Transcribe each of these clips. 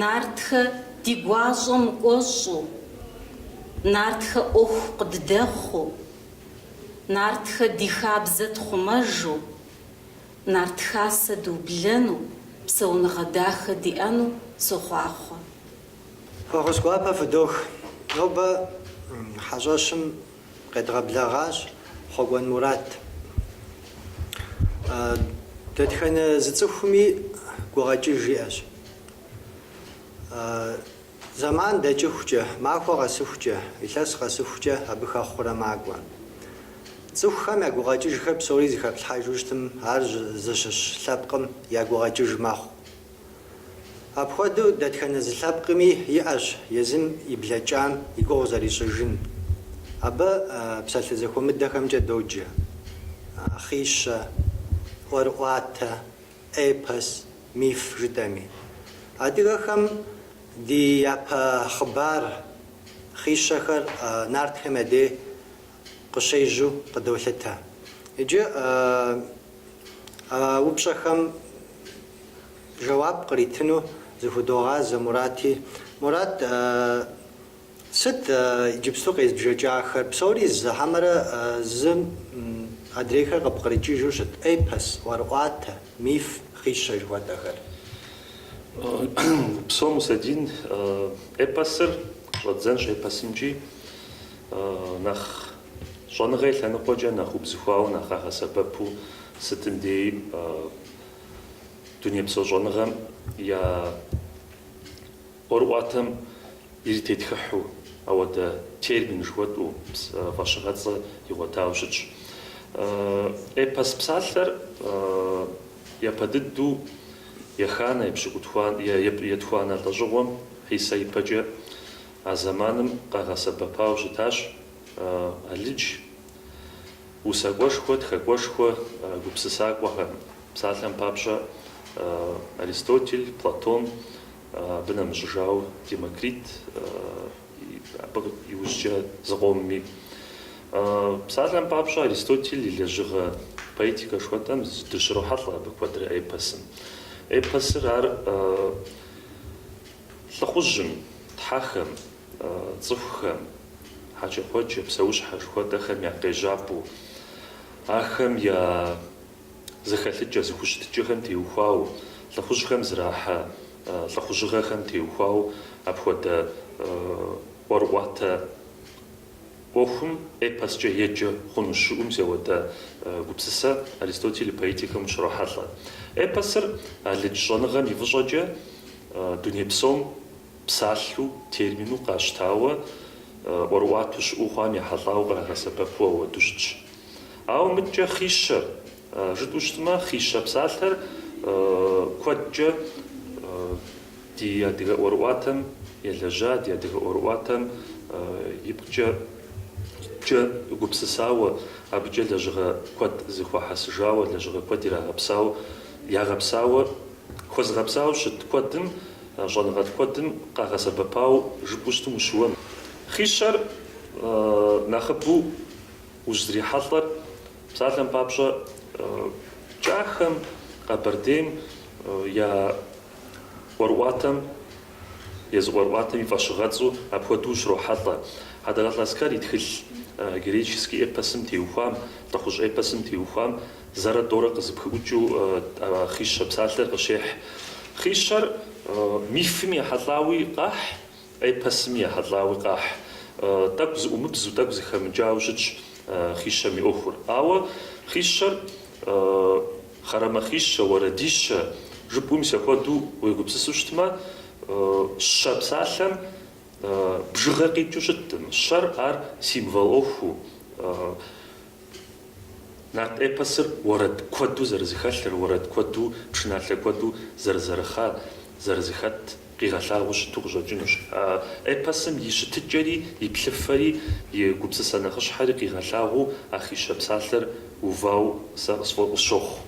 Нартхэ ди гуащӏэм кӏуэщӏу, Нартхэ ӏуэху къыддэхъуу, Нартхэ ди хабзэ тхъумэжу, Нарт Хасэ дублэну, псэуныгъэ дахэ диӏэну сохъуахъуэ. Фӏэхъус гуапэ фыдох. Нобэ хьэщӏэщым Къедгъэблэгъащ Хъуэкӏуэн Мурат. Дэтхэнэ зы цӏыхуми гукъэкӏыж иӏэщ. Зэман дэкӏыхукӏэ, махуэ къэсыхукӏэ, илъэс къэсыхукӏэ абы хэхъурэ макӏуэ. Цӏыхухэм я гукъэкӏыжхэр псори зыхэплъхьэжу щытым, ар зыщыщ лъэпкъым я гукъэкӏыж мэхъу. Апхуэдэу дэтхэнэ зы лъэпкъми иӏэщ езым и блэкӏам и гугъу зэрищӏыжын. Абы псалъэ зэхуэмыдэхэмкӏэ доджэ, хъищэ, ӏуэрыӏуатэ, эпос, миф жытӏэми. Адыгэхэм ди япэ хъыбар, хъищэхэр нартхэм я дей къыщежьэу къыдолъытэ. Иджы а упщӏэхэм жэуап къритыну зыхудогъазэ Мурати. Мурат, сыт иджыпсту къезбжэкӏахэр? Псори зы хьэмэрэ зым адрейхэр къыпкърикӏыжу щыт эпос, ӏуэрыӏуатэ, миф, хъищэ жыхуэтӏэхэр? Упсэу, Мусэдин. Эпосыр щӏэддзэнщ эпосымкӏи. Нэхъ щӏэныгъэ и лъэныкъуэкӏэ нэхъ убзыхуауэ нэхъ къагъэсэбэпу сытым деи дунейпсо щӏэныгъэм я ӏуэрыӏуатэм иритетхыхьу ауэдэ термин жыхуэтӏу фӏэщыгъэцӏэ игъуэтауэ щытщ. Эпос псалъэр япэ дыдэу еханэ, епщы, етхуанэ лӏэщӏыгъуэм Хьисэ ипэкӏэ А зэманым къагъэсэбэпауэ щытащ алыдж усакӏуэшхуэ, тхакӏуэшхуэ, гупсысакӏуэхэм. Псалъэм папщӏэ, Аристотель, Платон, абы нэмыщӏыжауэ Демокрит, абы иужькӏэ зыкъомми. Псалъэм папщӏэ, Аристотель и лэжьыгъэ поэтикэ жыхуэтӏэм дыщрохьэлӏэ абы куэдрэ эпосым. Эпосыр ар. Лӏыхъужьым, тхьэхэм, цӏыхухэм, хьэкӏэкхъуэкӏэ, псэущхьэ жыхуэтӏэхэм я къежьапӏэу, ахэм я зэхэлъыкӏэ, зэхущытыкӏэхэм теухуауэ, лӏыхъужьхэм зэрахьэ лӏыхъужьыгъэхэм теухуауэ апхуэдэ ӏуэрыӏуатэ ӏуэхум эпоскӏэ еджэ хъуну щыӏэу мис ауэдэ гупсысэ Аристотель и поэтикэм ущрохьэлӏэ. Эпосыр алыдж щӏэныгъэм и фӏыщӏэкӏэ дуней псом псалъэу, термину къащтауэ, ӏуэрыӏуатэу щыӏэу хъуам ехьэлӏауэ кърагъэсэбэпу ауэдэу щытщ. Ауэ мыдкӏэ хъищэ жытӏэу щытмэ, Хъищэ псалъэр куэдкӏэ ди адыгэ ӏуэрыӏуатэм елэжьа, ди адыгэ ӏуэрыӏуатэм ипкъкӏэ гупсысауэ, абыкӏэ лэжьыгъэ куэд зыхуахьэсыжауэ, лэжьыгъэ куэд ирагъэпсауэ, ягъэпсауэ, хуэзыгъэпсауэ щыт куэдым, щӏэныгъэлӏ куэдым къагъэсэбэпауэ жыпӏэу щытым ущыуэнкъым. Хъищэр нэхъыбэу ущызрихьэлӏэр псалъэм папщӏэ, кӏахэм, Къэбэрдейм я ӏуэрыӏуатэм, езы ӏуэрыӏуатэм и фӏэщыгъэцӏу апхуэдэу ущрохьэлӏэ. Хьэдэгъэлӏэ Аскэр и тхылъ героический эпосым теухуам, лӏыхъужь эпосым теухуам, зэрэ тӏорэ къызыпхыӏукӏыу Хъищэ псалъэр къыщехь. Хъищэр мифым ехьэлӏауи къахь. Эпосми ехьэлӏауи къахь. Тӏэкӏу зыӏумыбзу, тӏэкӏу зыхэмыджауэ щытщ Хъищэм и ӏуэхур. Ауэ Хъищэр хъэрэмэхъищэ, уэрэдищэ жыпӏэу мис апхуэдэу уегупсысу щытмэ, щэ псалъэм бжыгъэ къикӏыу щыткъым. Щэр ар символ ӏуэхуу. Нарт эпосыр уэрэд куэду зэрызыхэлъыр, уэрэд куэду, пшыналъэ куэду зэрызэрыхъар, зэрызыхэт къигъэлъагъуэу щыту къыщӏэкӏынущ. А эпосым и щытыкӏэри, и плъыфэри, и гупсысэ нэхъыщхьэри къигъэлъагъуэу а Хъищэ псалъэр увауэ сэ къысщохъу.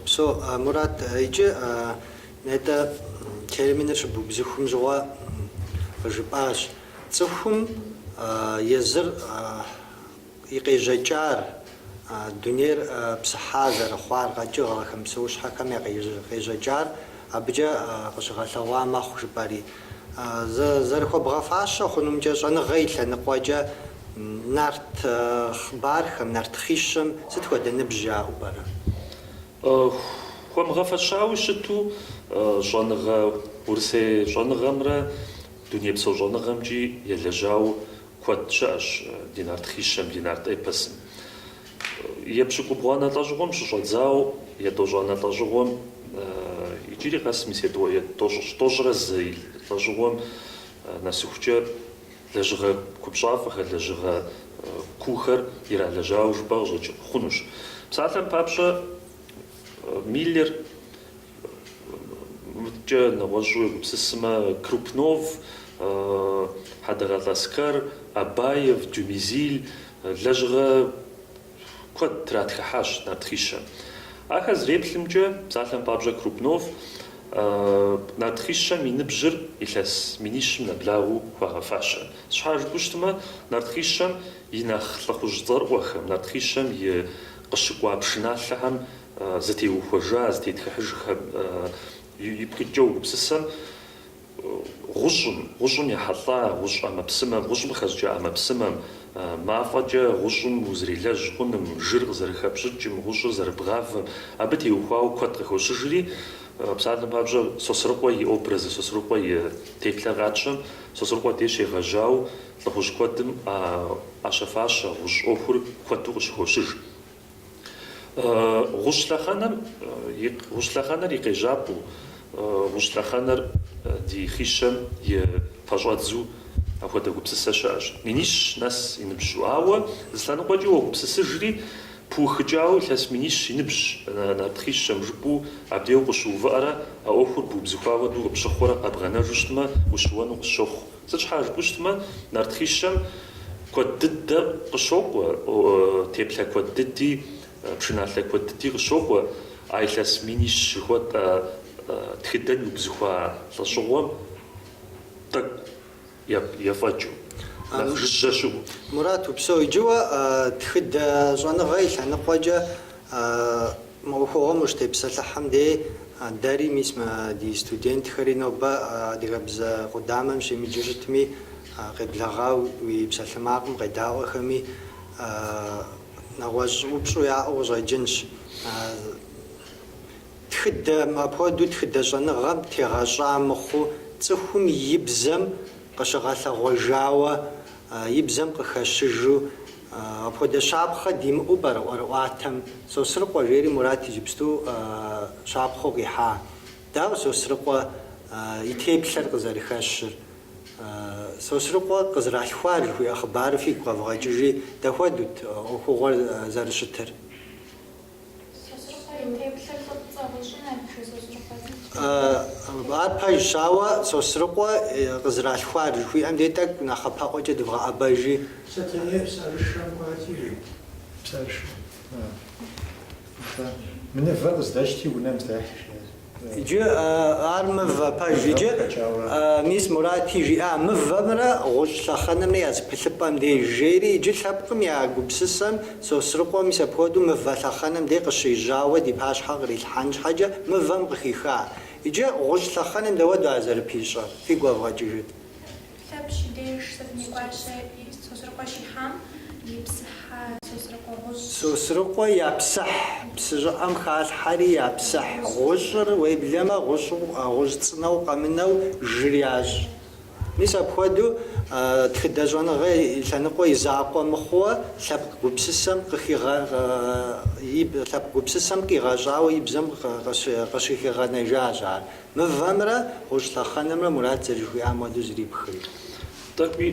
Упсэу, Мурат, иджы нетӏэ терминыр щыбубзыхум щыгъуэ къыжыпӏащ. Цӏыхум езыр и къежьэкӏар, дунейр псыхьа зэрыхъуар, къэкӏыгъэхэм, псэущхьэхэм я къежьэкӏар абыкӏэ къыщыгъэлъэгъуа мэхъу жыпӏэри. Зэрыхуэбгъэфащэ хъунумкӏэ щӏэныгъэ и лъэныкъуэкӏэ нарт хъыбархэм, нарт хъищэм сыт хуэдэ ныбжь яӏэу пӏэрэ? Хуэмыгъэфэщауи щыту щӏэныгъэ, урысей щӏэныгъэмрэ дунейпсо щӏэныгъэмкӏи елэжьауэ, куэд щыӏэщ ди нарт хъищэм, ди нарт эпосым. Епщыкӏубгъуанэ лӏэщӏыгъуэм щыщӏэдзауэ етӏощӏанэ лӏэщӏыгъуэм иджыри къэс мис тӏощӏрэ зы лӏэщӏыгъуэм нэсыхукӏэ лэжьыгъэ купщӏафӏэхэр, лэжьыгъэ куухэр иралэжьауэ жыпӏэ къыщӏэкӏ хъунущ. Псалъэм папщӏэ, Миллер Мыдкӏэ нэгъуэщӏу егупсысмэ, Крупнов, Хьэдэгъэлӏ Аскэр, Абаев, Дюмезиль лэжьыгъэ куэд тратхыхьащ нарт хъищэм. Ахэр зэреплъымкӏэ, псалъэм папщӏэ, Крупнов нарт хъищэм и ныбжьыр илъэс минищым нэблагъэу хуагъэфащэ. Сыт щхьа жыпӏэу щытмэ, нарт хъищэм и нэхъ лӏыхъужь цӏэрыӏуэхэм, нарт хъищэм и къыщыкӏуа пшыналъэхэм Зытеухуэжа, зытетхыхьыжхэм ипкъ иткӏэ угупсысэм, гъущӏым, гъущӏым ехьэлӏа гъущӏ ӏэмэпсымэм, гъущӏым къыхэщӏыкӏа ӏэмэпсымэм, мафӏэкӏэ гъущӏым узэрелэжь хъуным, жыр къызэрыхэпщӏыкӏым, гъущӏыр зэрыбгъавэм, абы теухуауэ куэд къыхощыжри, псалъэм папщӏэ, Сосрыкъуэ и образыр, Сосрыкъуэ и теплъэр къатщтэм, Сосрыкъуэ деж егъэжьауэ лӏыхъужь куэдым ӏэщэ-фащэ гъущӏ ӏуэхур куэду къыщыхощыж. Гъущӏ лъэхъэнэм и гъущӏ лъэхъэнэр и къежьапӏэу, гъущӏ лъэхъэнэр ди хъищэм и пэщӏэдзу апхуэдэ гупсысэ щыӏэщ. Минищ нэс и ныбжьу. Ауэ зы лъэныкъуэкӏэ уэгупсысыжри, пыухыкӏауэ илъэс минищ и ныбжьщ, нарт хъищэм жыпӏэу абде укъыщыувыӏэрэ а ӏуэхур бубзыхуа хуэдэу къыпщыхъурэ къэбгъэнэжу щытмэ, ущыуэну къысщохъу. Сыт щхьа жыпӏэу щытмэ, нарт хъищэм куэд дыдэ къыщокӏуэ, теплъэ куэд дыди, пшыналъэ куэд дыди къыщокӏуэ, а илъэс минищ жыхуэтӏэ тхыдэм иубзыхуа лӏэщӏыгъуэм тӏэкӏу ефӏэкӏыу, нэхъ жыжьэ щыӏэу. Мурат, упсэу. Иджы уэ тхыдэ щӏэныгъэ и лъэныкъуэкӏэ. Мы ӏуэхугъуэм ущытепсэлъыхьым дей дэри, мис мы ди студентхэри нобэ адыгэбзэ къудамэм щемыджэу щытми, къеблэгъауэ уи псалъэмакъым къедаӏуэхэми, нэгъуэщӏ упщӏу яӏэу къыщӏэкӏынщ. Тхыдэм апхуэдэу тхыдэ щӏэныгъэм тегъэщӏа мыхъуу, цӏыхум и бзэм къыщыгъэлъэгъуэжауэ и бзэм къыхэщыжу, апхуэдэ щапхъэ димыӏэу пӏэрэ ӏуэрыӏуатэм Сосрыкъуэ жери Мурат иджыпсту щапхъэу къихьа? Дауэ Сосрыкъуэ и теплъэр къызэрыхэщыр? Сосрыкъуэ къызэралъхуар жыхуиӏэ хъыбарыр фигу къэвгъэкӏыжи, дапхуэдэут ӏуэхугъуэр зэрыщытыр? Ар пэжщ, ауэ Сосрыкъуэ къызэралъхуар жыхуиӏэм де тӏэкӏу нэхъапэӏуэкӏэ дывгъэӏэбэжи. Сэтэней псарышэм кӏуати, жи. Псарышэм. Мы мывэр къыздэщти, унэм здэхьи, жиӏащ. Иджы ар мывэ пэж иджы, мис Мурати жиӏа мывэмрэ гъущӏ лъэхъэнэмрэ я зыпылъыпӏэм деж, жери иджы лъэпкъым я гупсысэм, Сосрыкъуэ, мис апхуэдэу мывэ лъэхъэнэм дей къыщежьауэ ди пащхьэ кърилъхьэн щхьэкӏэ мывэм къыхиха. Иджы гъущӏ лъэхъэнэм дауэду ар зэрыпищӏэр, фигу къэвгъэкӏыжыт. Лъэпщ и деж Сэтэней гуащэ Сосрыкъуэ щихьам ипсыхьа Сосрыкъуэ гъущӏ. Сосрыкъуэ япсыхь псы щӏыӏэм халъхьэри япсыхь гъущӏыр, уеблэмэ, гъущӏу, гъущӏ цӏынэу къэмынэу жыр ящӏ. Мис апхуэдэу тхыдэ щӏэныгъэ лъэныкъуэ и закъуэ мыхъууэ лъэпкъ гупсысэм къыхигъэ, лъэпкъ гупсысэм къигъэщӏауэ и бзэм къыщыхигъэнэжащ ар. Мывэмрэ гъущӏ лъэхъэнэмрэ Мурат зэрыжыхуиӏам хуэдэу зрипхри. Тӏэкӏуи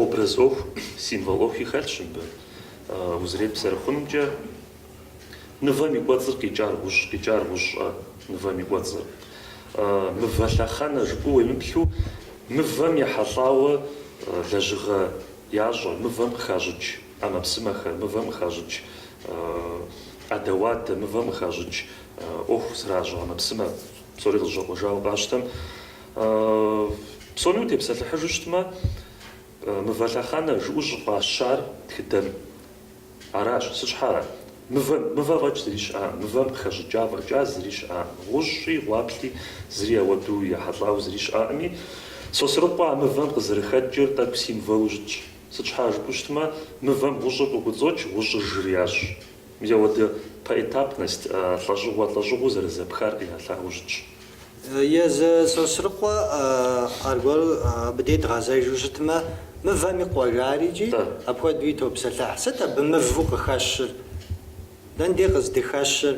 образ ӏуэху, символ ӏуэхуи хэлъщ мыбы. Узэреплъ зэрыхъунумкӏэ мывэм и кӏуэцӏыр къикӏар гъущӏ, къикӏар гъущӏщ а мывэм и кӏуэцӏыр. Мывэ лъэхъэнэ жыпӏэу уемыплъу, мывэм ехьэлӏауэ лэжьыгъэ ящӏэ, мывэм къыхащӏыкӏ ӏэмэпсымэхэр, мывэм къыхащӏыкӏ ӏэдэ-уадэ, мывэм къыхащӏыкӏ ӏуэху зэращӏэ ӏэмэпсымэ, псори къызэщӏэкъуэжауэ къащтэм, псоми утепсэлъыхьыжу щытмэ, мывэ лъэхъэнэ жыӏэу щӏыфӏащар тхыдэм аращ. Сыт щхьэра? Мывэ, мывэ фӏэкӏ зыри щыӏакъым, мывэм къыхэщӏыкӏа фӏэкӏа зыри щыӏакъым, гъущӏи, гъуаплъи зыри ауэду ехьэлӏауэ зыри щыӏакъыми, Сосрыкъуэ а мывэм къызэрыхэкӏыр тӏэкӏу символу щытщ. Сыт щхьэра жыпӏэу щытмэ, мывэм гъущӏыр къыкӏуэцӏокӏ, гъущӏыр жыр ящӏ. Ауэдэ поэтапность лӏэщӏыгъуэ лӏэщӏыгъуэу зэрызэпхар къигъэлъагъуэу щытщ. Езы Сосрыкъуэ аргуэру абы дей дгъэзэжу щытмэ, мывэм и къуэ жари икӏи апхуэдэуи топсэлъыхь. Сыт абы мывэу къыхэщыр? Дэн дей къыздыхэщыр?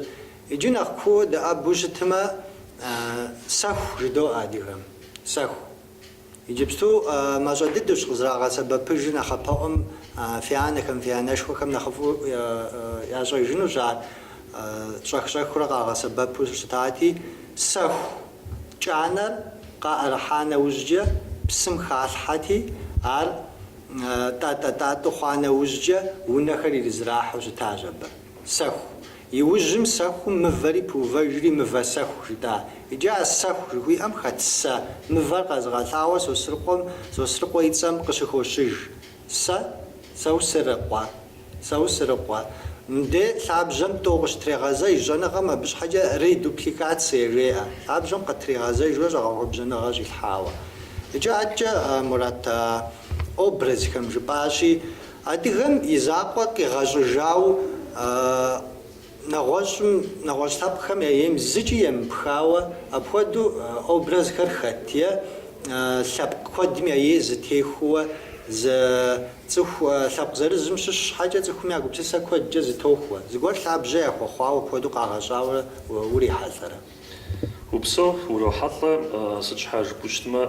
Иджы нэхъ кууэ дэӏэбэу щытмэ, сэху жыдоӏэ адыгэм. Сэху. Иджыпсту мащӏэ дыдэущ къызрагъэсэбэпыжыр нэхъапэӏуэм фи анэхэм, фи анэшхуэхэм нэхъыфӏу ящӏэжынущ ар щӏэх-щӏэхыурэ къагъэсэбэпу щытати, сэху кӏанэр къаӏэрыхьа нэужькӏэ псым халъхьэти, ар тӏатӏэ-тӏатӏу хъуа нэужькӏэ унэхэр ирызэрахьэу щытащ абы. Сэху. Иужьым сэхум мывэри пыувэжри мывэ сэху жытӏа. Иджы а сэху жыхуиӏэм хэт сэ мывэр къэзыгъэлъагъуэ Сосрыкъуэм, Сосрыкъуэ и цӏэм къыщыхощыж. Сэ? Саусырыкъуэ. Саусырыкъуэ. Мыдэ лъабжьэм тӏэу къыщытрегъэзэж, щӏэныгъэм абы щхьэкӏэ редупликацие жеӏэ. Лъабжьэм къытригъэзэжурэ щӏэгъэхуэбжьэныгъэ щӏилъхьауэ. Иджы адэкӏэ, Мурат, а образхэм жыпӏащи, Адыгэм и закъуэ къигъэщӏыжауэ нэгъуэщӏым, нэгъуэщӏ лъэпкъхэм я ейм зыкӏи емыпхауэ апхуэдэу образхэр хэт е лъэпкъ куэдым я ей зытехуэ зы цӏыху лъэпкъ зырызым щыщ щхьэкӏэ цӏыхум я гупсысэ куэдкӏэ зытохуэ, зыгуэр лъабжьэ яхуэхъуауэ апхуэдэу къагъэщӏауэ урихьэлӏэрэ? Упсэу урохьэлӏэ, сыт щхьэ жыпӏэу щытмэ.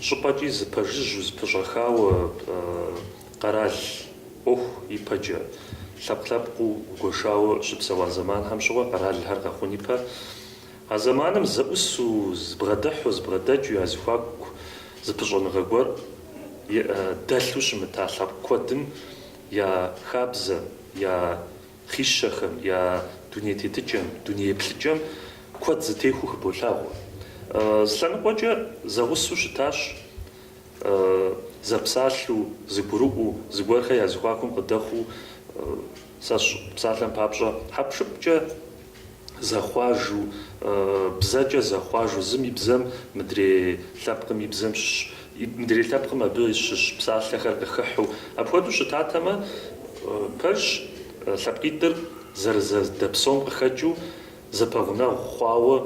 щӏыпӏэкӏи зыпэжыжьу зыпыщӏэхауэ къэрал ӏуэху ипэкӏэ, лъэпкъ-лъэпкъыу гуэшауэ щыпсэуа зэманхэм щыгъуэ къэралхэр къэхъун ипэ. А зэманым зэӏусу, зыбгъэдыхьу, зыбгъэдэкӏыу я зыхуаку зыпыщӏэныгъэ гуэр дэлъу щымыта лъэпкъ куэдым я хабзэ, я. Хъищэхэм я дуней тетыкӏэм, дуней еплъыкӏэм куэд зытехуэу хыболъагъуэ. Зы лъэныкъуэкӏэ зэгъусэу щытащ зэпсалъэу, зыгурыӏуэу, зыгуэрхэр я зыхуакум къыдэхъуу, сэ сщӏэ, псалъэм папщӏэ, хьэпшыпкӏэ зэхъуажу, бзэкӏэ зэхъуажу, зым и бзэм, мыдрей лъэпкъым и бзэм, мыдрей лъэпкъым абы щыщ псалъэхэр къыхыхьу. Апхуэдэу щытатэмэ, пэжщ, лъэпкъитӏыр зэрызэдэпсэум къыхэкӏыу, зэпэгъунэгъу хъуауэ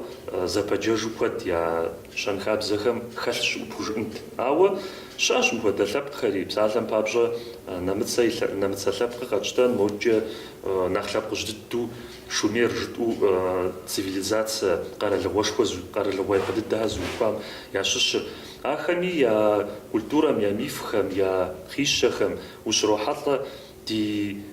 зэпэджэжу куэд я щэнхабзэхэм хэлъ щыӏэу пхужыӏэнт. Ауэ щыӏэщ мыхуэдэ лъэпкъхэри, псалъэм папщӏэ, нэмыцэ лъэпкъыр къэтщтэн, модкӏэ нэхъ лъэпкъыжь дыдэу, Шумер жытӏу цивилизацэ къэралыгъуэшхуэ зу, къэралыгъуэ япэ дыдэхэр зыухуам ящыщыр. Ахэми я культурэм, я мифхэм, я хъищэхэм ущрохьэлӏэ ди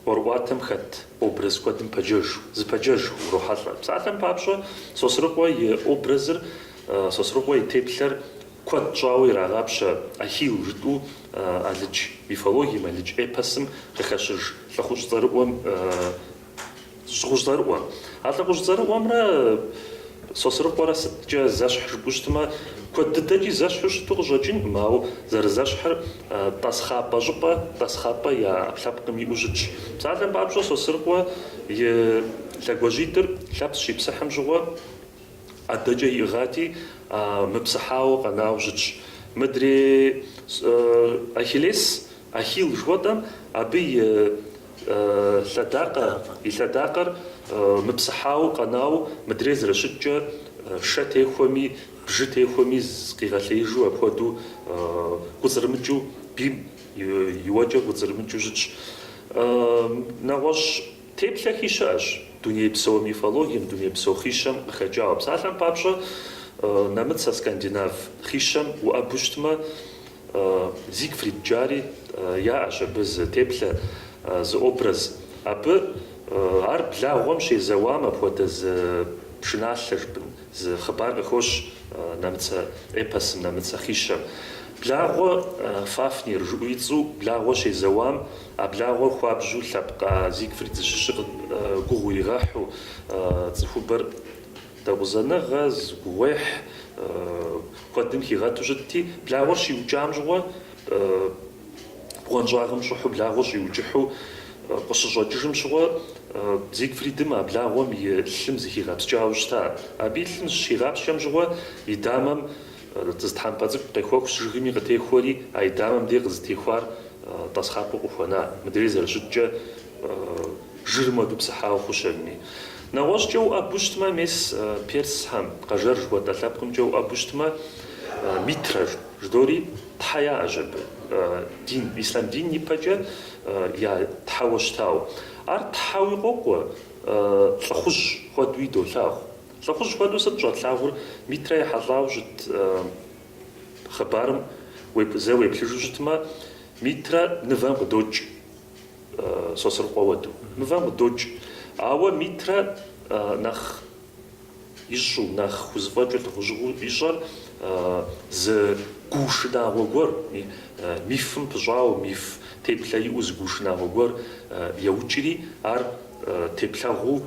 ӏуэрыӏуатэм хэт образ куэдым пэджэж, зыпэджэж урохьэлӏэ. Псалъэм папщӏэ, Сосрыкъуэ и образыр, Сосрыкъуэ и теплъэр Куэд щӏауэ ирагъапщэ Ахилл жытӏэу алыдж мифологием, алыдж эпосым къыхэщыж лӏыхъужь цӏэрыӏуэм, лӏыхъужь цӏэрыӏуэ. А лӏыхъужь цӏэрыӏуэмрэ Сосрыкъуэрэ сыткӏэ зэщхь жыпӏэу щытмэ, куэд дыдэкӏи зэщхьу щыту къыщӏэкӏынкъым, ауэ зэрызэщхьыр тӏасхъапӏэ щӏыпӏэ, тӏасхъапӏэ я ӏэпкълъэпкъым иӏэу щытщ. Псалъэм папщӏэ, Сосрыкъуэ и лъэгуажьитӏыр Лъэпщ щипсыхьым щыгъуэ. ӏэдэкӏэ иӏыгъати, мыпсыхьауэ къэнауэ щытщ. Мыдрей Ахиллес, Ахилл жыхуэтӏэм, абы и лъэдакъэр мыпсыхьауэ къэнауэ мыдрей зэрыщыткӏэ, шэ техуэми, бжы техуэми къигъэлъеижу апхуэдэу кӏуцӏрымыкӏыу, бийм и уэкӏэр кӏуцӏрымыкӏыу щытщ. Нэгъуэщӏ Теплъэхи щыӏэщ. Дунейпсо мифологием, дунейпсо хищэм къыхэкӏауэ. Псалъэм папщӏэ, нэмыцэ, скандинав хищэм уӏэбу щытмэ, Зигфрид жари яӏэщ абы зы теплъэ, зы образ. Абы ар благъуэм щезэуам апхуэдэ зы пшыналъэ, жыпӏэн, зы хъыбар къыхощ нэмыцэ эпосым, нэмыцэ хищэм. Благъуэ Фафнир жыӏу и цӏу, благъуэ щезэуам. А благъуэр хуабжьу лъэпкъ а Зигфрид зыщыщыр гугъу иригъэхьу, цӏыхубэр дэкъузэныгъэ, зы гугъуехь куэдым хигъэту щытти, благъуэр щиукӏам щыгъуэ, бгъуэнщӏагъым щӏыхьу благъуэр щӏиукӏыхьу къыщыщӏэкӏыжым щыгъуэ, Зигфридым а благъуэм и лъым зыхигъэпскӏауэ щыта. Абы и лъым щигъапскӏэм щыгъуэ, и дамэм Зы тхьэмпэ цӏыкӏу къехуэхущ жыгми къытехуэри, а и дамэм дей къызытехуар тӏасхъапӏэу къыхуэна, мыдрей зэрыщыткӏэ жырым уэду псыхьауэ хъущэрми. Нэгъуэщӏкӏэ уӏэбу щытмэ, мес Персхэм, Къэжэр жыхуэтӏэ лъэпкъымкӏэ уӏэбу щытмэ, Митрэ жыдори тхьэ яӏэщ абы, дин, ислъам дин ипэкӏэ я тхьэуэ щытауэ. Ар тхьэуи къокӏуэ, лӏыхъужь хуэдуи долъагъу. Лӏыхъужь хуэдэу сыт щӏэтлъагъур Митрэ ехьэлӏауэ щыт хъыбарым зэ уеплъыжу щытмэ, Митрэ нывэм къыдокӏ, Сосрыкъуэ уэду, нывэм къыдокӏ. Ауэ Митрэ нэхъ ищӏу, нэхъ хузэфӏэкӏыр, лӏыхъужьыгъэу ищӏэр зы гуу шынагъуэ гуэр, мифым пыщӏауэ, миф теплъэ иӏэу зы гуу шынагъуэ гуэр еукӏри, ар теплъэгъуу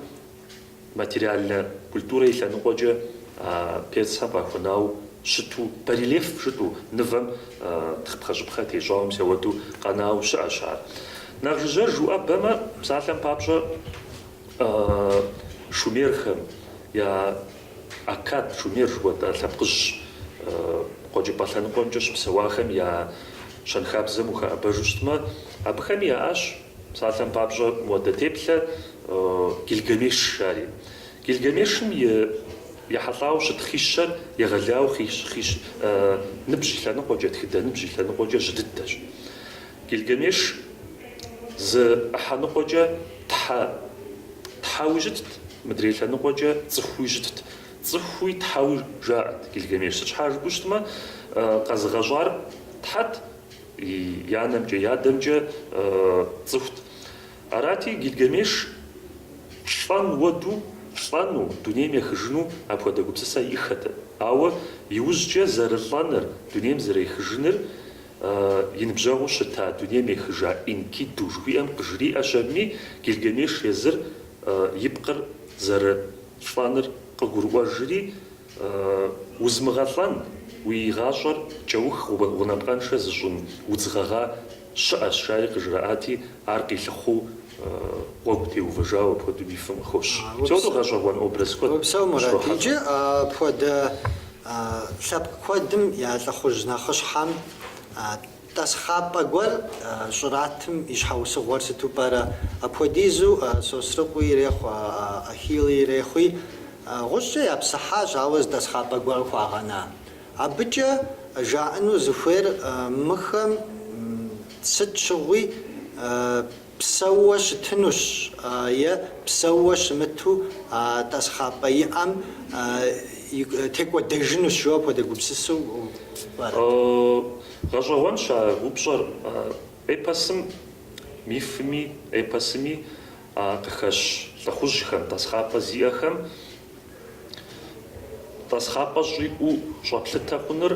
Материальнэ культурэ и лъэныкъуэкӏэ а персхэм къахуэнау щыту, барельеф жытӏу, нывэм тхъыпхъэщӏыпхъэ тещӏауэ мис ауэду къэнау щыӏэщ ар. Нэхъ жыжьэж уӏэбэмэ, псалъэм папщӏэ, шумерхэм я Аккад, Шумер жыхуэтӏэ лъэпкъыжь къуэкӏыпӏэ лъэныкъуэмкӏэ щыпсэуахэм я щэнхабзэм ухэӏэбэжу щытмэ, абыхэми яӏащ, Псалъэм папщӏэ, модэ теплъэ Гильгамеш жари. Гильгамешым ехьэлӏауэ щыт хищэр егъэлау хищ ныбжь и лъэныкъуэкӏэ, тхыдэ ныбжь и лъэныкъуэкӏэ жьы дыдэщ. Гильгамеш зы ӏыхьэныкъуэкӏэ тхьэ, тхьэуи щытт, мыдрей лъэныкъуэкӏэ цӏыхуи щытт. Цӏыхуи тхьэуи жаӏэт Гильгамеш. Сыт щхьа жыпӏэу щытмэ, къэзыгъэщӏар тхьэт, и анэмкӏэ, и адэмкӏэ цӏыхут. Арати, Гильгамеш лӏэн уэду лӏэну, дунейм ехыжыну апхуэдэ гупсысэ иӏэххэтэкъым. Ауэ иужькӏэ зэрылӏэныр, дунейм зэрехыжыныр и ныбжьэгъуу щыта дунейм ехыжа Энкиду жыхуиӏэм къыжриӏэщ абыми, Гильгамеш езыр и пкъыр зэрылӏэныр къыгурыӏуэжри, Узмыгъэлӏэн, уи гъащӏэр кӏэух гъунапкъэншэ зыщӏын удз гъэгъа щыӏэщ, жари къыжраӏати, ар къилъыхъуу гъуэгу теувэжауэ апхуэдэу мифым къыхощ. Псэуну гъэщӏэгъуэн образ куэд къыщрохьэлӏэ. Апхуэдэ лъэпкъ куэдым я лӏыхъужь нэхъыщхьэм Тӏасхъапӏэ гуэр щӏратым и щхьэусыгъуэр сыту пӏэрэ? Апхуэдизу Сосрыкъуи ирехъу, Ахилли ирехъуи, гъущӏкӏэ япсыхьащ, ауэ зы тӏасхъапӏэ гуэр хуагъэна. Абыкӏэ жаӏэну зыхуейр мыхэм сыт щыгъуи, Псэууэ щытынущ е псэууэ щымыту а тӏасхъапӏэ иӏэм текӏуэдэжынущ, жо апхуэдэ гупсысэу пӏэрэ? Гъэщӏэгъуэнщ а упщӏэр. Эпосым, мифми эпосми къыхэщ лӏыхъужьхэм, тӏасхъапӏэ зиӏэхэм Тӏасхъапӏэ щӏиӏэу щӏэплъытэ хъуныр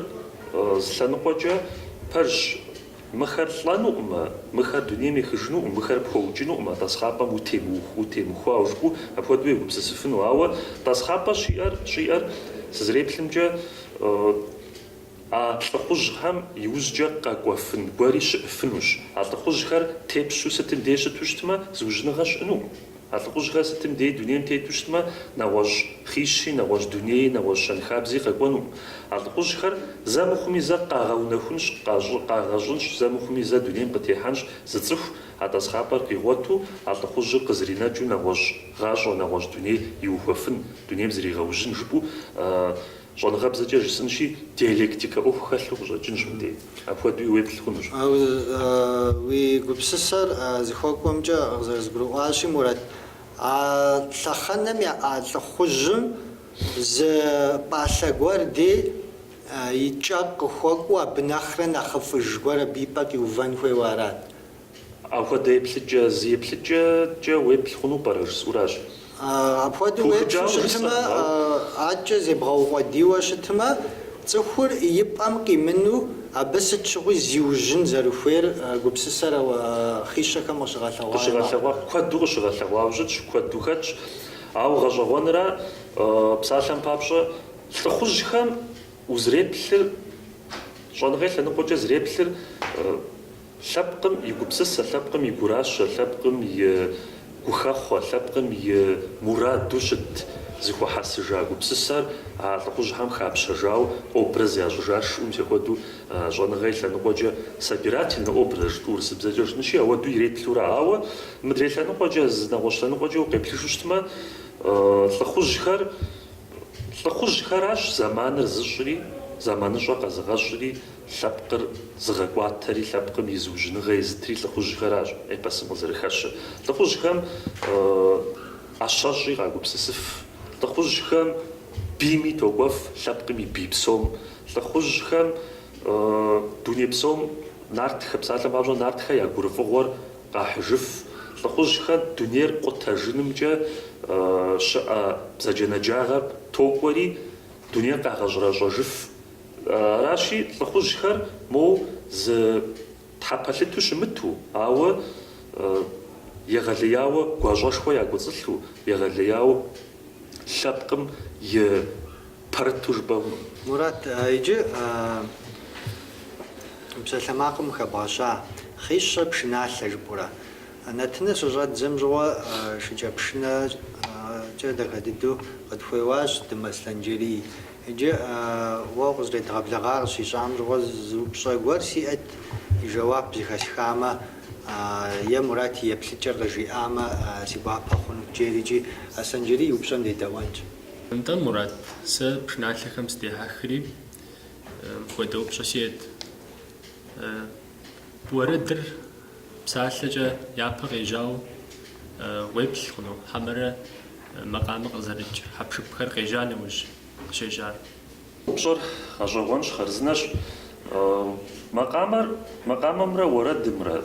зы лъэныкъуэкӏэ пэжщ. Мыхэр лӏэнукъымэ, мыхэр дунейм ехыжынукъым, мыхэр пхуэукӏынукъымэ, тӏасхъапӏэм утемыухуауэ жыпӏэу апхуэдэу егупсысыфыну. Ауэ тӏасхъапӏэ щиӏэр, щӏиӏэр, сызэреплъымкӏэ, а лӏыхъужьхэм иужькӏэ къэкӏуэфын гуэри щыӏыфынущ. А лӏыхъужьхэр тепщу сытым дей щыту щытмэ, зыужьыныгъэ щыӏэнукъым. А лӏыхъужьхэр сытым дей дунейм тету щытмэ, нэгъуэщӏ хищи, нэгъуэщӏ дунеи, нэгъуэщӏ щэнхабзи къэкӏуэнукъым. А лӏыхъужьхэр зэ мыхъуми зэ къагъэунэхунщ, къагъэщӏынщ, зэ мыхъуми зэ дунейм къытехьэнщ зы цӏыху а тӏасхъапӏэр къигъуэту, а лӏыхъужьыр къызринэкӏыу нэгъуэщӏ гъащӏэ, нэгъуэщӏ дуней иухуэфын, дунейм зригъэужьын жыпӏэу Щӏэныгъэбзэкӏэ жысӏынщи, диалектикэ ӏуэху хэлъу къыщӏэкӏынщ мыбдей. Апхуэдэуи уеплъ хъунущ. Уи гупсысэр зыхуэкӏуэмкӏэ къызэрызгурыӏуащи, Мурат, а лъэхъэнэм яӏа лӏыхъужьым зы пӏалъэ гуэр дей и кӏэ къыхуэкӏуэу абы нэхърэ нэхъыфӏыж гуэр абы и пӏэ къиувэн хуейуэ арат. Апхуэдэ еплъыкӏэ зы еплъыкӏэкӏэ уеплъ хъуну пӏэрэ жысӏуращ. Апхуэдэу уеплъу щытмэ, адэкӏэ зебгъэукъуэдийуэ щытмэ, цӏыхур и пӏэм къимыну абы сыт щыгъуи зиужьын зэрыхуейр гупсысэр хъишэхэм къыщыгъэлъэгъуа яӏэу? Куэду къыщыгъэлъэгъуауэ щытщ, куэду хэтщ. Ауэ гъэщӏэгъуэнра, псалъэм папщӏэ, лӏыхъужьхэм узэреплъыр, щӏэныгъэ и лъэныкъуэкӏэ зэреплъыр Лъэпкъым и гупсысэ, лъэпкъым и гуращэ, лъэпкъым и гухэхъуэ, лъэпкъым и мураду щыт зэхуэхьэсыжа гупсысэр а лӏыхъужьхэм хапщэжауэ образ ящӏыжа шыӏум техуэду щӏэныгъэ и лъэныкъуэкӏэ собирательнэ образ жытӏу урысыбзэкӏэ жытӏэнщи ауэду иреплъурэ ауэ мыдрей лъэныкъуэкӏэ зы нэгъуэщӏ лъэныкъуэкӏэ укъеплъыжу щытмэ лӏыхъужьхэр лӏыхъужьхэращ зэманыр зыщӏри зэманыщӏэ къэзыгъэщӏри Лъэпкъыр зыгъэкӏуатэри лъэпкъым и зыужьыныгъэ езытри лӏыхъужьхэращ эпосым къызэрыхэщыр. Лӏыхъужьхэм ӏэщэщӏи къагупсысыф, лӏыхъужьхэм бийми токӏуэф, лъэпкъым и бий псом. Лӏыхъужьхэм дуней псом нартхэ, псалъэм папщӏэ, нартхэ я гурыфӏыгъуэр къахьыжыф. Лӏыхъужьхэр дунейр къутэжынымкӏэ щыӏэ бзаджэнаджагъэм токӏуэри, дунейр къагъэщӏрэщӏэжыф. Аращи, лӏыхъужьхэр моу зы тхьэ пэлъыту щымыту, ауэ егъэлеяуэ гуащӏэшхуэ якӏуэцӏылъу, егъэлеяуэ лъэпкъым и пэрыту жыпӏэу. Мурат, иджы псалъэмакъым хэбгъэща хъищэ пшыналъэ жыпӏэурэ. Нэтыныр щыщӏэддзэм щыгъуэ шыкӏэпшынэкӏэ дахэ дыдэу къытхуеуащ Дым Аслъэнджэрий. Иджы уэ укъызэредгъэблэгъар къыщищӏам щыгъуэ зы упщӏэ гуэр сиӏэт, и жэуап зыхэсхамэ е Мурат и еплъыкӏэр къыжиӏамэ си гуапэ хъунут, жери икӏи Аслъэнджэрий и упщӏэм дедэӏуэнщ. Нтӏэ, Мурат, сэ пшыналъэхэм сыдехьэхри мыпхуэдэ упщӏэ сиӏэт. Уэрэдыр. Псалъэкӏэ япэ къежьауэ уеплъ хъуну хьэмэрэ макъамэ къызэрыкӏ хьэпшыпхэр къежьа нэужь къыщежьар? Упщӏэр гъэщӏэгъуэнщ, хъарзынэщ. Макъамэр, макъамэмрэ уэрэдымрэ,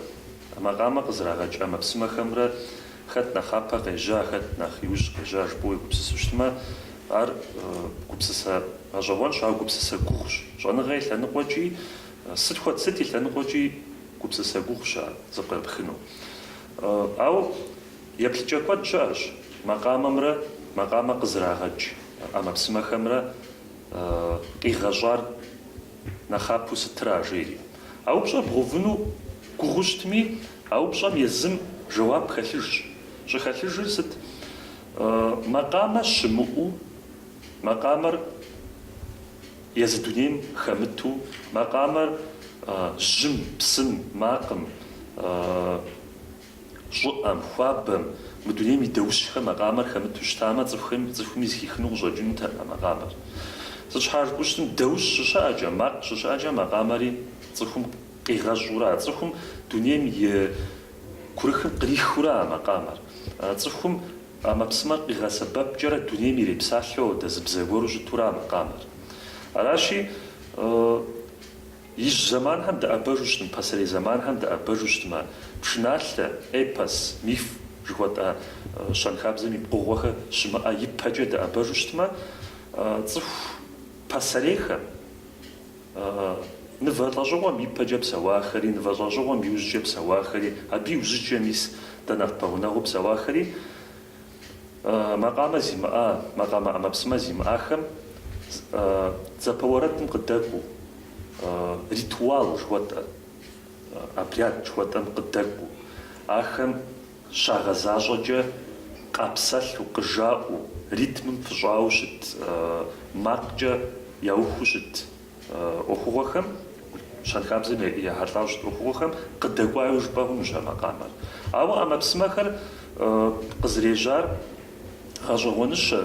макъамэ къызэрагъэкӏ ӏэмэпсымэхэмрэ хэт нэхъапэ къежьа, хэт нэхъ иужь къежьа жыпӏэу уегупсысу щытмэ, ар гупсысэ гъэщӏэгъуэнщ, ар гупсысэ гугъущ. Щӏэныгъэ и лъэныкъуэкӏи, сыт хуэдэ, сыт и лъэныкъуэкӏи Гупсысэ гугъущ ар зэпкърыпхыну. Ауэ еплъыкӏэ куэд щыӏэщ макъамэмрэ макъамэ къызэрагъэкӏ ӏэмэпсымэхэмрэ къигъэщӏар нэхъапэу сытыра жери. А упщӏэр бгъэувыну гугъу щытми, а упщӏэм езым жэуап хэлъыжщ. Щӏыхэлъыжыр сыт? Макъамэ щымыӏэу макъамэр Езы дунейм хэмыту макъамэр жьым, псым, макъым, щӏыӏэм, хуабэм, мы дунейм и даущхэм макъамэр хэмыту щытамэ, цӏыхуми зыхихыну къыщӏэкӏынутэкъым а макъамэр. Сыт щхьэ жыпӏэу щытым, даущ щыщыӏэкӏэ, макъ щыщыӏэкӏэ макъамэри цӏыхум къигъэщӏурэ, а цӏыхум дунейм и курыхым кърихыурэ а макъамэр, цӏыхум Ӏэмэпсымэр къигъэсэбэпкӏэрэ дунейм ирепсалъэу одэ зы бзэ гуэру щытурэ а макъамэр. Аращи, ижь зэманхэм дэӏэбэжу щытым, пасэрей зэманхэм дэӏэбэжу щытымэ, пшыналъэ, эпос, миф жыхуэтӏэ щэнхабзэм и пкъыгъуэхэр щымыӏэ ипэкӏэ дэӏэбэжу щытымэ, цӏыху пасэрейхэм, Нывэ лӏэщӏыгъуэм ипэкӏэ псэуахэри, нывэ лӏэщӏыгъуэм иужькӏэ псэуахэри, абы иужьыкӏэ мис дэ нэхъ пэгъунэгъуу псэуахэри макъамэ зимыӏа, макъамэ ӏэмэпсымэ зимыӏахэм дзапэ уэрэдым къыдэкӏуэу, ритуал жыхуэтӏэ, обряд жыхуэтӏэм къыдэкӏуэу, ахэм Щагъэзащӏэкӏэ къапсэлъу, къыжаӏэу, ритмым фыщӏауэ щыт макъкӏэ яухуэу щыт ӏуэхугъуэхэм, щэнхабзэм ехьэлӏауэ щыт ӏуэхугъуэхэм къыдэкӏуауи жыпӏэ хъунущ а макъамэр. Ауэ ӏэмэпсымэхэр къызэрежьар. Гъэщӏэгъуэныщэ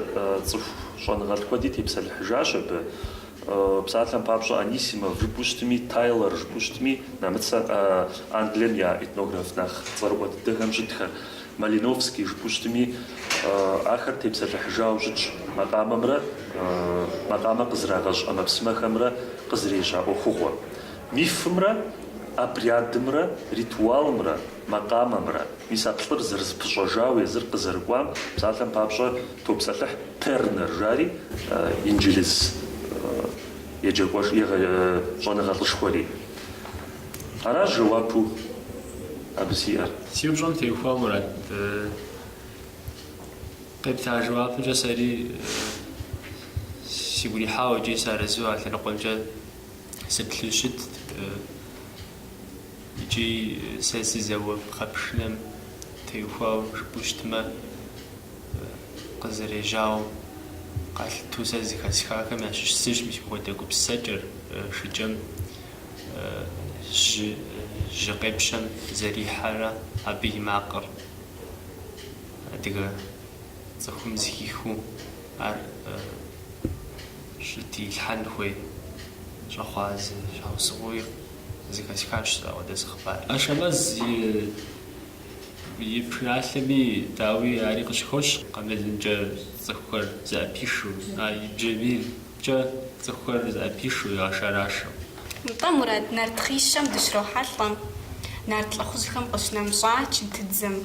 цӏыху щӏэныгъэлӏ куэди тепсэлъыхьыжащ абы. Псалъэм папщӏэ, Анисимов жыпӏэу щытми, Тайлор жыпӏэу щытми, нэмыцэ Англием я этнограф нэхъ цӏэрыӏуэ дыдэхэм щытхэр, Малиновский жыпӏэу щытми, ахэр тепсэлъыхьыжауэ щытщ макъамэмрэ макъамэ къызэрагъэщӏ ӏэмэпсымэхэмрэ къызэрежьа ӏуэхугъуэ мифымрэ обрядымрэ ритуалымрэ. макъамэмрэ, мис а плӏыр зэрызэпыщӏэжауэ езыр къызэрыкӏуам, псалъэм папщӏэ, топсэлъыхь Тернер жари инджылыз еджэкӏуэш, егэ, щӏэныгъэлӏышхуэри. Аращ жэуапу абы сиӏэр. Си упщӏэм теухуауэ, Мурат, къепта жэуапымкӏэ сэри сигу ирихьауэ икӏи сыарэзыу а лъэныкъуэмкӏэ сыплъу щытт. Икӏи сэ сызэуэ пхъэпшынэм теухуауэ жыпӏэу щытмэ, къызэрежьауэ къалъыту сэ зыхэсхахэм ящыщ зыщ мис мыпхуэдэ гупсысэкӏэр, шыкӏэм жьы жьы къепщэм зэрихьэрэ абы и макъыр адыгэ цӏыхум зыхихыу ар щытилъхьэн хуей щӏэхъуа зы щхьэусыгъуи. Зыхэсхащ ауэдэ зы хъыбар. Ашэмэз и пшыналъэми, дауи, ари къыщыхощ. Къамылымкӏэ цӏыхухэр зэӏэпишу, а и бжьамийкӏэ цӏыхухэр зэӏэпишу, ягъэшэрашэу. Нтӏэ, Мурат, нарт хъищэм дыщрохьэлӏэ нарт лӏыхъужьхэм къыщынэмыщӏа чынтыдзэм.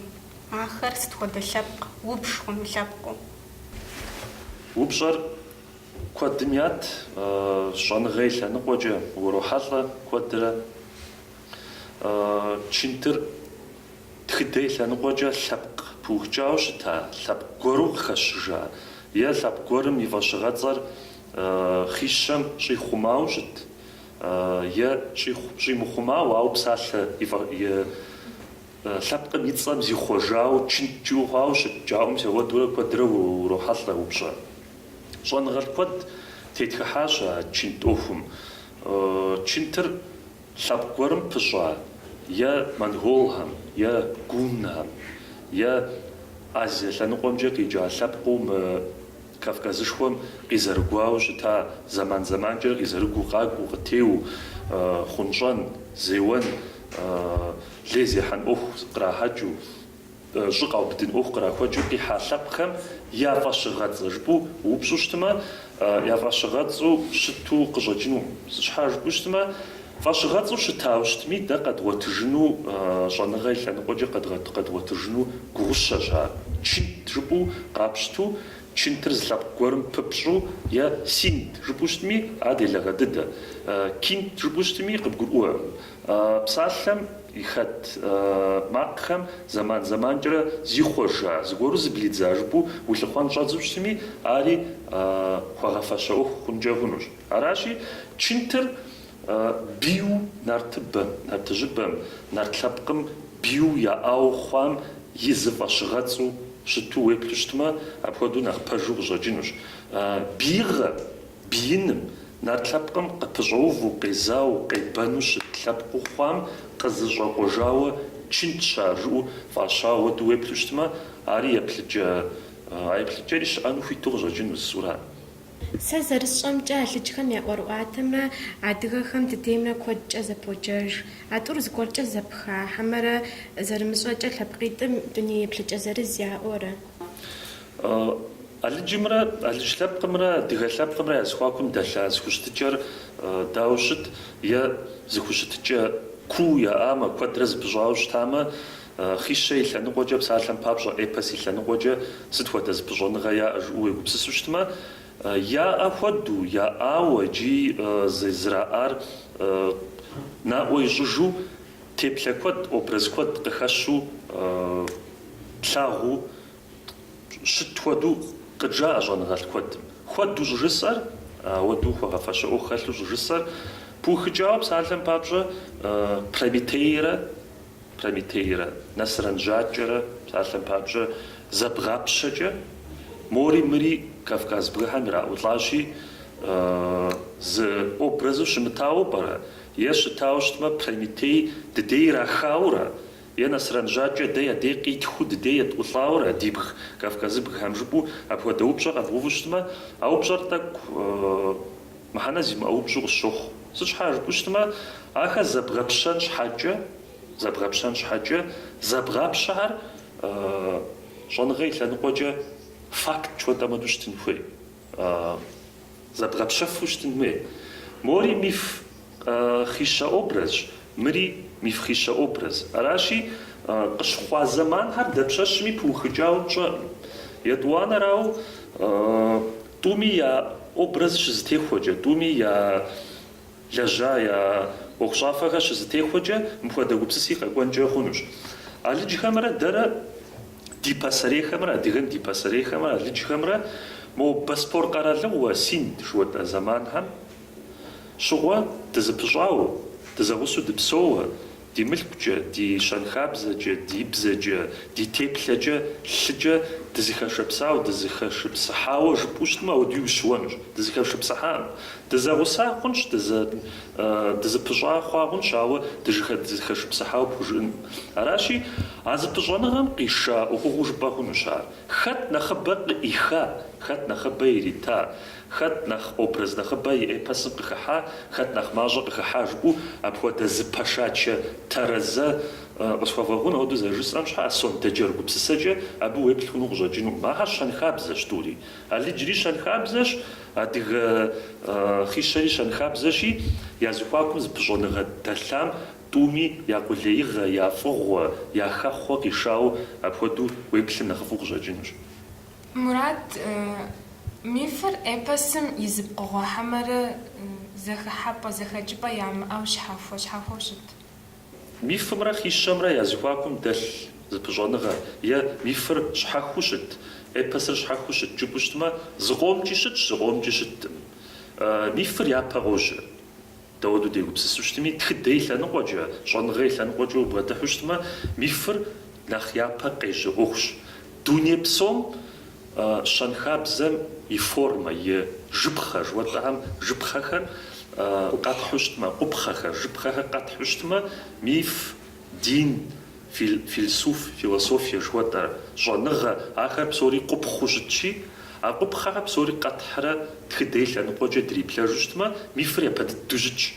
Ахэр сыт хуэдэ лъэпкъ, убж хъуну лъэпкъыу? Упщӏэр Куэдым ят щӏэныгъэ и лъэныкъуэкӏэ урохьэлӏэ куэдрэ. Чынтыр тхыдэ и лъэныкъуэкӏэ лъэпкъ пыухыкӏауэ щыта лъэпкъ гуэру къыхэщыжа е лъэпкъ гуэрым и фӏэщыгъэцӏэр хъищэм щӏихъумауэ щыт е щӏимыхъумауэ, ауэ псалъэ Лъэпкъым и цӏэм зихъуэжауэ, чынт жыӏэу хъуауэ щыт жаӏэу, мис ауэдурэ куэдрэ урохьэлӏэ упщӏэ. Щӏэныгъэлӏ куэд тетхыхьащ а чынт ӏуэхум. Чынтыр лъэпкъ гуэрым пыщӏа е монголхэм, е гуннхэм, е Азие лъэныкъуэмкӏэ къикӏа лъэпкъыу мы Кавказышхуэм къизэрыгуауэ щыта зэман-зэманкӏэ къизэрыгуу къакӏуэу, къытеуэу, хъунщӏэн, зеуэн, лей зехьэн ӏуэху кърахьэкӏыу, щӏы къаубыдын ӏуэху кърахуэкӏыу къихьа лъэпкъхэм я фӏэщыгъэцӏэ жыпӏэу упщӏу щытмэ, я фӏэщыгъэцӏэу щыту къыщӏэкӏыну щхьа жыпӏэу щытмэ, Фӏэщыгъэцӏу щытауэ щытми, дэ къэдгъуэтыжыну щӏэныгъэ и лъэныкъуэкӏэ къэдгъуэтыжыну гугъущэщ ар. Чынт жыпӏэу къапщту, чынтыр зы лъэпкъ гуэрым пыпщӏу е синт жыпӏэу щытми, ар делагъэ дыдэ. Кинт жыпӏэу щытми, къыбгурыӏуэркъым. Псалъэм и хэт макъхэм зэман-зэманкӏэрэ зихъуэжа, зыгуэру зыблидза жыпӏэу улъыхъуэн щӏэдзэу щытми, ари хуэгъэфэщэ ӏуэху хъункӏэ хъунущ. Аращи, чынтыр бийу нартыбэм, нартыжьыбэм, нарт лъэпкъым бийу яӏауэ хъуам и зы фӏэщыгъэцӏу щыту уеплъу щытмэ, апхуэдэу нэхъ пэжу къыщӏэкӏынущ. Бийгъэ, бииным, нарт лъэпкъым къыпыщӏэуву, къезауэ, къебэну щыт лъэпкъыу хъуам къызыщӏэкъуэжауэ чынтщ ар жыӏэу фӏащауэ ауэду уеплъу щытмэ, ари еплъыкӏэ, а еплъыкӏэри щыӏэну хуиту къыщӏэкӏынущ, Суран. Сэ зэрысщӏэмкӏэ, алыджхэм я ӏуэрыӏуатэмрэ адыгэхэм дыдеймрэ куэдкӏэ зэподжэж. А тӏур зыгуэркӏэ зэпха хьэмэрэ зэрымыщӏэкӏэ лъэпкъитӏым дуней еплъыкӏэ зырыз яӏуэрэ? Алыджымрэ алыдж лъэпкъымрэ адыгэ лъэпкъымрэ я зэхуакум дэлъа зыхущытыкӏэр дауэ щыт? Е зыхущытыкӏэ куу яӏамэ, куэдрэ зыпыщӏауэ щытамэ, Хъищэ и лъэныкъуэкӏэ, псалъэм папщӏэ, эпос и лъэныкъуэкӏэ сыт хуэдэ зыпыщӏэныгъэ яӏэ жыпӏэу уегупсысу щытмэ, яӏэ хуэду, яӏауэ икӏи зэраӏар наӏуэ ищӏыжу, теплъэ куэд, образ куэд къыхэщу, тлъагъуу щыт хуэдэу къыджаӏэ щӏэныгъэлӏ куэдым. Хуэду щӏыжысӏэр, ауэдэу хуэгъэфэщэ ӏуэху хэлъу щӏыжысӏэр, пыухыкӏауэ, псалъэм папщӏэ, Прометейрэ Прометейрэ Нэсрэн жьакӏэрэ псалъэм папщӏэ зэбгъапщэкӏэ, мори мыри Кавказ бгыхэм ираӏулӏащи, зы образу щымытауэ пӏэрэ? Е щытауэ щытмэ, Прометей дыдей ирахауэрэ? Е Нэсрэн жьакӏэ дэ я дей къитхыу дыдей етӏулӏауэрэ, ди бг Кавказ бгыхэм? жыпӏэу апхуэдэ упщӏэ къэбгъэуву щытмэ, а упщӏэр тӏэкӏу Мыхьэнэ зимыӏэ упщӏу къысщохъу. Сыт щхьа жыпӏэу щытмэ, ахэр зэбгъэпщэн щхьэкӏэ, зэбгъэпщэн щхьэкӏэ, зэбгъапщэхэр щӏэныгъэ и лъэныкъуэкӏэ факт жыхуэтӏэм хуэду щытын хуей, зэбгъэпщэфу щытын хуей. Мори миф хъищэ образщ, мыри миф хъищэ образ. Аращи, къыщыхъуа зэманхэр дапщэщми пыухыкӏауэ пщӏэкъым. Етӏуанэрауэ, Тӏуми я образ щызэтехуэкӏэ, тӏуми я лэжьа, я ӏуэхущӏафэхэр щызэтехуэкӏэ мыпхуэдэ гупсыси къэкӏуэнкӏэ хъунущ. Алыджхэмрэ дэрэ ди пасэрейхэмрэ, адыгэм ди пасэрейхэмрэ алыджхэмрэ мо Боспор къэралыгъуэ Синд жыхуэтӏэ зэманхэм щыгъуэ дызыпыщӏауэ, дызэгъусэу дыпсэууэ, Ди мылъкукӏэ, ди щэнхабзэкӏэ, ди бзэкӏэ, ди теплъэкӏэ, лъыкӏэ дызыхэшыпсауэ, дызыхэшыпсыхьауэ жыпӏэу щытмэ, ауэдуи ущыуэнущ. Дызыхэшыпсыхьакъым. Дызэгъуса хъунщ, дызыпыщӏа хъуа хъунщ, ауэ дызыхэшыпсыхьауэ пхужыӏэнкъым. Аращи, а зыпыщӏэныгъэм къиша ӏуэхугъуэу жыпӏэ хъунущ ар. Хэт нэхъыбэ къыӏиха, хэт нэхъыбэ ирита, Хэт нэхъ образ нэхъыбэ и эпосым къыхыхьа, хэт нэхъ мащӏэ къыхыхьа жыпӏэу апхуэдэ зыпэшачэ тэрэзэ къысхуэвгъэгъун ауэду зэрыжысӏэм щхьа, сондэджэр гупсысэкӏэ абы уеплъ хъуну къыщӏэкӏынукъым. Ахэр щэнхабзэщ тӏури. Алыджри щэнхабзэщ, адыгэ хъищэри щэнхабзэщи, я зыхуакум зыпыщӏэныгъэ дэлъам тӏуми я къулеигъэ, я фӏыгъуэ, я хэхъуэ къишауэ апхуэдэу уеплъым нэхъыфӏу къыщӏэкӏынущ. Мурат, мифыр эпосым и зы пкъыгъуэ хьэмэрэ зэхыхьэпӏэ, зэхэкӏыпӏэ ямыӏэу щхьэхуэ-щхьэхуэу щыт? Мифымрэ хищэмрэ я зыхуакум дэлъ зыпыщӏэныгъэ е мифыр щхьэхыу щыт, эпосыр щхьэхыу щыт жыпӏэу щытмэ, зыкъомкӏи щытщ, зыкъомкӏи щыткъым. Мифыр япэ къожьэ. Дауэду дегупсысу щытми, тхыдэ и лъэныкъуэкӏэ, щӏэныгъэ и лъэныкъуэкӏэ убгъэдыхьу щытмэ, мифыр нэхъ япэ къежьэ ӏуэхущ. Дуней псом щэнхабзэм и формэ, и жыпхъэ, жыхуэтӏэхэм жыпхъэхэр къэтхьу щытмэ, къупхъэхэр, жыпхъэхэр къэтхьу щытмэ, миф Дин, филсуф, философие жыхуэтӏэ, щӏэныгъэ, ахэр псори къупхъыу щытщи, а къупхъэхэр псори къэтхьрэ тхыдэ и лъэныкъуэкӏэ дриплъэжу щытмэ, мифыр япэ дыдэу щытщ.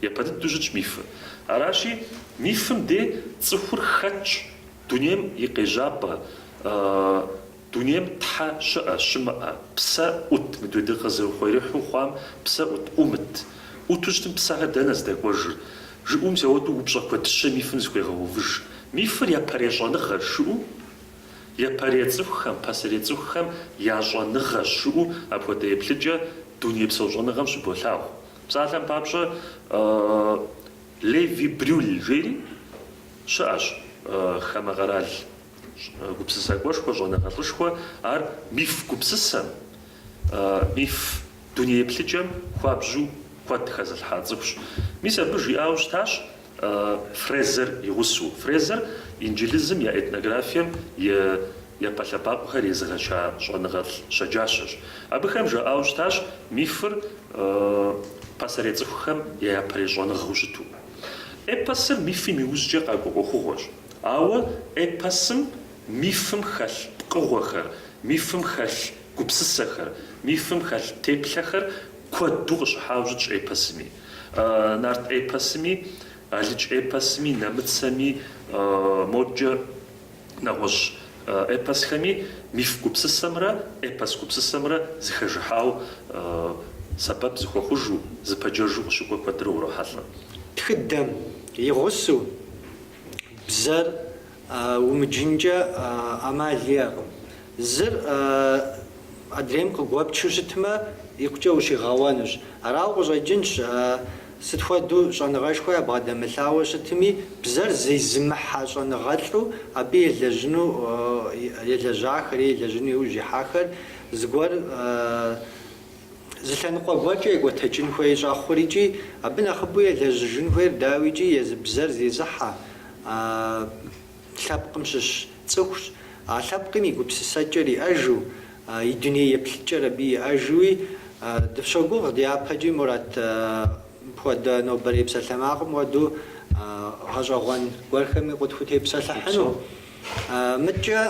Япэ дыдэу щытщ мифыр. Аращи, мифым де цӏыхур хэтщ дунейм и къежьапӏэ. Дунейм Тхьэ щыӏэ, щымыӏэ, псэ ӏут, мыдэ ди къызыхъуреихьу хъуам псэ ӏут, ӏумыт. ӏуту щытым псэхэр дэнэ здэкӏуэжыр? Жыӏэу мис ауэдэу упщӏэ куэдыщэ мифым зыхуегъэувыж. Мифыр япэрей щӏэныгъэщ жыӏэу? Япэрей цӏыхухэм, пасэрей цӏыхухэм я щӏэныгъэщ жыӏэу апхуэдэ еплъыкӏэ дунейпсо щӏэныгъэм щыболъагъу. Псалъэм папщӏэ, Леви Брюль жери щыӏэщ хамэ къэрал. Гупсысакӏуэшхуэ, щӏэныгъэлӏышхуэ, ар миф гупсысэм, миф дуней еплъыкӏэм хуабжьу куэд хэзылъхьа цӏыхущ. Мис абы жиӏауэ щытащ Фрезер и гъусэу. Фрезер инджылызым я этнографием и япэ лъэбакъуэхэр езыгъэча щӏэныгъэлӏ щэджащэщ. Абыхэм жаӏауэ щытащ мифыр пасэрей цӏыхухэм я япэрей щӏэныгъэу щыту. Эпосыр мифым иужькӏэ къакӏуэ ӏуэхугъуэщ. Ауэ эпосым мифым хэлъ пкъыгъуэхэр, мифым хэлъ гупсысэхэр, мифым хэлъ теплъэхэр куэду къыщыхьауэ щытщ эпосыми. Нарт эпосыми, алыдж эпосыми, нэмыцэми, моджэ нэгъуэщӏ эпосхэми миф гупсысэмрэ эпос гупсысэмрэ зыхэжыхьауэ сэбэп зыхуэхъужу, зыпэджэжу къыщыкӏуэ куэдрэ урохьэлӏэ. Тхыдэм и гъусу Бзэр умыджынкӏэ ӏэмал иӏэкъым. Зыр адрейм къыгуэпчу щытмэ, икъукӏэ ущигъэуэнущ. Арауэ къыщӏэкӏынщ, сыт хуэдэу щӏэныгъэшхуэ ябгъэдэмылъауэ щытми, бзэр зезымыхьэ щӏэныгъэлӏу абы елэжьыну, елэжьахэри елэжьыну иужь ихьахэр зыгуэр Зы лъэныкъуэ гуэркӏэ екӏуэтэкӏын хуей щӏэхъур икӏи абы нэхъыбэу елэжьыжын хуейр, дауикӏи, езы бзэр зезыхьэ лъэпкъым щыщ цӏыхущ, а лъэпкъым и гупсысэкӏэр иӏэжу, и дуней еплъыкӏэр абы иӏэжуи. Дыфщогугъ дяпэкӏи Мурат мыпхуэдэ нобэрей псалъэмакъым хуэдэу гъэщӏэгъуэн гуэрхэми къытхутепсэлъыхьыну. Мыдкӏэ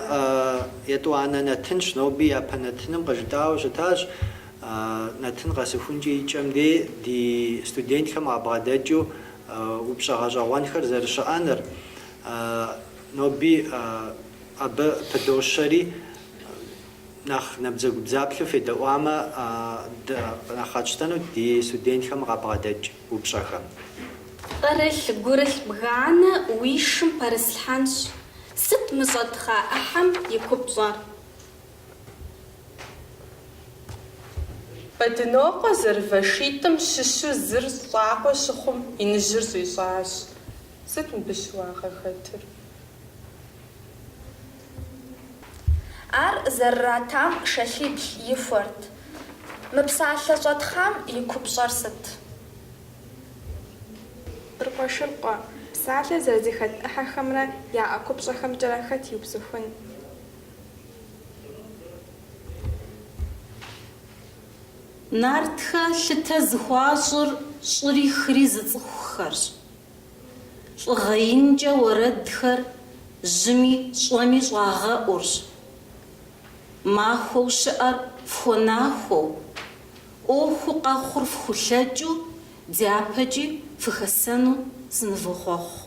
етӏуанэ нэтынщ, ноби япэ нэтыным къыжытӏауэ щытащ, нэтын къэсыхункӏэ и кӏэм дей ди студентхэм къабгъэдэкӏыу упщӏэ гъэщӏэгъуэнхэр зэрыщыӏэныр. Ноби абы пыдощэри, нэхъ набдзэгубдзаплъэу федэӏуамэ, нэхъ къэтщтэнут ди студентхэм къабгъэдэкӏ. упщӏэхэм. Пкъырылъ, гурылъ бганэ уи шым пэрыслъхьэнщ, сыт мы щӏэтхъа ӏыхьэм и купщӏэр? Бэдынокъуэ зэрывэ шитӏым щыщу зыр щӏакъуэ щыхъум, иныжьыр щӏищӏащ. Сыт мыбы щыуагъэ хэтыр? Ар зэрыратам шэлъибл ихуэрт. Мы псалъэ щӏэтхъам и купщӏэр сыт? Быркъуэшыркъуэ. Псалъэ зэрызэхэт ӏыхьэхэмрэ яӏэ купщӏэхэмкӏэрэ хэт иупсыхун? Нартхэ лъытэ зыхуащӏыр щӏыри хыри зыцӏыхухэрщ. Лӏыгъэ инкӏэ уэрэдхэр жьыми щӏэми щӏагъэӏурщ. Махуэу щыӏэр фхуэнахуэу, ӏуэхуу къэхъур фхулъэкӏыу дяпэкӏи фыхэсэну сынывохъуэхъу.